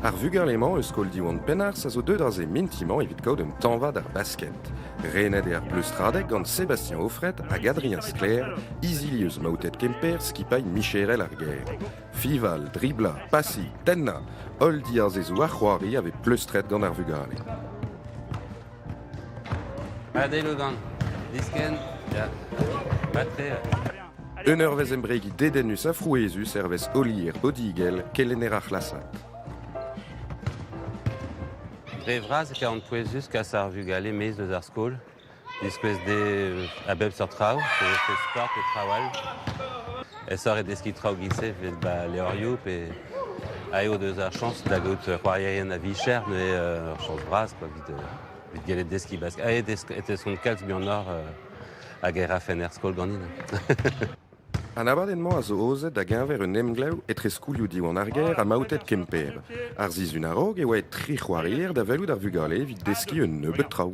Ar vugale-mañ eus skol Diwan Penarth a zo deuet aze mintimañ evit kaout un tañva d'ar basket. Renet eo ar pleustradeg gant Sébastien Auffret hag Adrien Sclair, izilieus maotet Kemper, skipailh micherel ar gêr. Fival, driblañ, pasiñ, tennañ, holl diazezoù ar c'hoari a vez pleustret gant ar vugale. Un eurvezh embregiñ dedennus ha frouezhus hervez Olier Odigel, kelenner ar c'hlasad. Dre vras e kavan pouezus kas ar vugale maez eus ar skol, diskouez dezhe a bep seurt traoù, so je fais sport et traoù all. Aesoc'h eo deskiñ traoù giz-se evit ba levrioù pe aet eo deus ar chañs da gaout c'hoarierien a-vicher neuze ur chañs bras quoi evit evit gellet deskiñ bask aet e tesont kalz muioc'h hag e rafen er skol ganin. An abadenn-mañ a zo aozet da-geñver un emglev etre skoulioù Diwan ar gêr ha Maoted Kemper. Ar sizhun a-raok e oa aet tri c'hoarier da welout ar vugale evit deskiñ un nebeud traoù.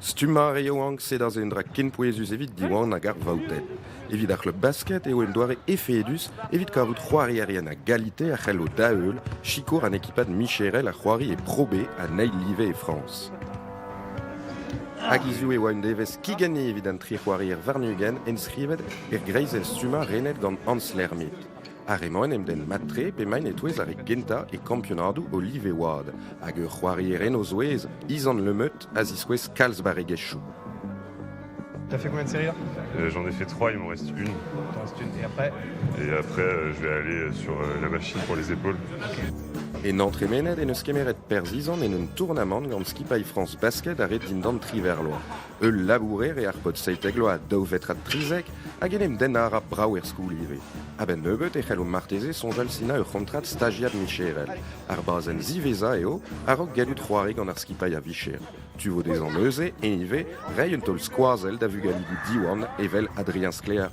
Stummañ a ra yaouank-se da se un dra ken pouezus evit Diwan hag ar vaouted. Evit ar c'hleub basket eo un doare efedus evit kavout c'hoarierien a galite a c'hello da-heul sikour an ekipad micherel a c'hoari e Pro B an eil live e Frañs. Hag hiziv e oa un devezh kigenne evit an tri c'hoarier warn-ugent enskrivet er greizenn-stummañ renet gant Hans Lermit. Ar re-mañ en em denn mat-tre p'emaint e-touez ar re gentañ e kampionadoù olive-wad hag ur c'hoarier en o zouez, Izan Le Meut, a ziskouez kalz barregezhioù. T'as fait combien de séries là Euh, J'en ai fait trois, il m'en reste une. T'en restes une et après Et après, euh, je vais aller sur euh, la machine pour les épaules. En entremened en eus kemeret perzh Izan en un tournamant gant skipailh France Basket a red dindan tri verloaz. Ul labourer eo ar paotr seitek vloaz, daou vetr ha trizek, hag en em dennañ a ra brav er skol ivez. A-benn nebeut e c'hello marteze soñjal sinañ ur c'hontrad stajiad micherel. Ar bazenn ziwezhañ eo a-raok gallout c'hoari gant ar skipailh a-vicher. Tu vo dezhañ neuze, eñ ivez, reiñ un taol skoazell da vugaligoù Diwan evel Adrien Sklaer.